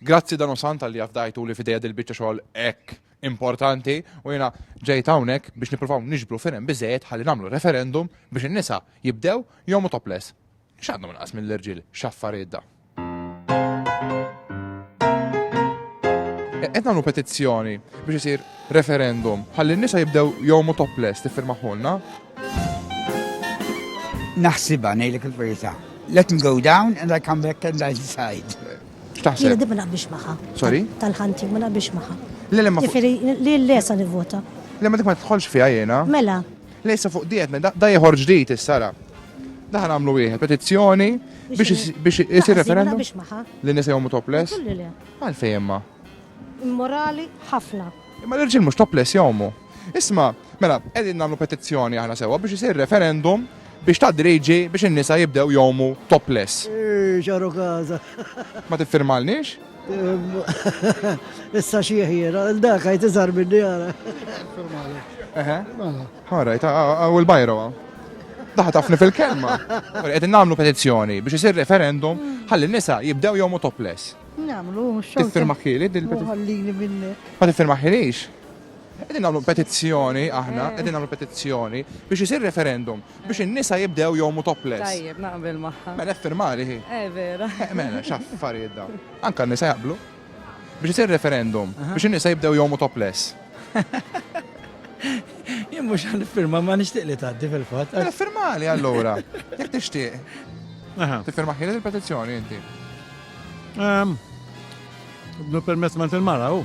Grazzi Dan u Sant talli afdajtu li f'idejja dil-biċċa xogħol hekk importanti u jiena ġejt hawnhekk biex nippruvaw niġbru firem biżejjed ħalli nagħmlu referendum biex in-nisa jibdew jomu topless. X'għandhom inqas mill-irġiel x'affarijiet da. Qed nagħmlu petizzjoni biex isir referendum ħalli n-nisa jibdew jomu topless tiffirmaħulna. Naħsibha ngħidlek il-verità. Let me go down and I come back and I decide. X'taħseb? Jien ma naqbix magħha. Sorry? Tal-ħanti ma naqbix magħha. Le le ma. Jifieri li l-lesa nivvota. Le ma dik ma tħolx fiha jiena. Mela. Lejsa fuq diet, da jħorġ dit is-sara. Daħna għamlu wieħed petizzjoni biex isir referendum. Li nisa jgħomu topless? Għalfejn imma. Immorali ħafna. Imma l-irġiel mhux topless jgħomu. Isma', mela, qegħdin nagħmlu petizzjoni aħna sewwa biex isir referendum biex tgħaddi liġi biex in-nisa jibdew jgħumu topless. Eeh, x'għaru każa! Ma tiffirmalniex? Issa xieh jiena, dak għid iżgħar minni ara. Niffirmalek. Eħe. Mela. All right, hawn il-bajro hawn. Daħħa tafni fil-kelma. Qegħdin nagħmlu petizzjoni biex isir referendum ħalli n-nisa jibdew jgħumu topless. Nagħmlu, mhux xogħol. Tiffirmaħħieli din il-petizzjoni? Ħallini minnek. Ma tiffirmaħħilix? Qegħdin nagħmlu petizzjoni aħna, qegħdin nagħmlu petizzjoni biex isir referendum biex in-nisa jibdew jgħumu topless. Tajjeb, naqbel magħha. Mela ffirmali hi. Eh, vera. Eh, mela, x'affarijiet dawn. Anka n-nisa jaqblu. Biex isir referendum biex in-nisa jibdew jgħumu topless. Jien mhux għal firma ma nixtieq li tgħaddi fil-fatt. Mela ffirmali allura. Jekk tixtieq. Aha. Tifirma ħielet il-petizzjoni inti. Ehm, Bnu permess ma il-mara, u.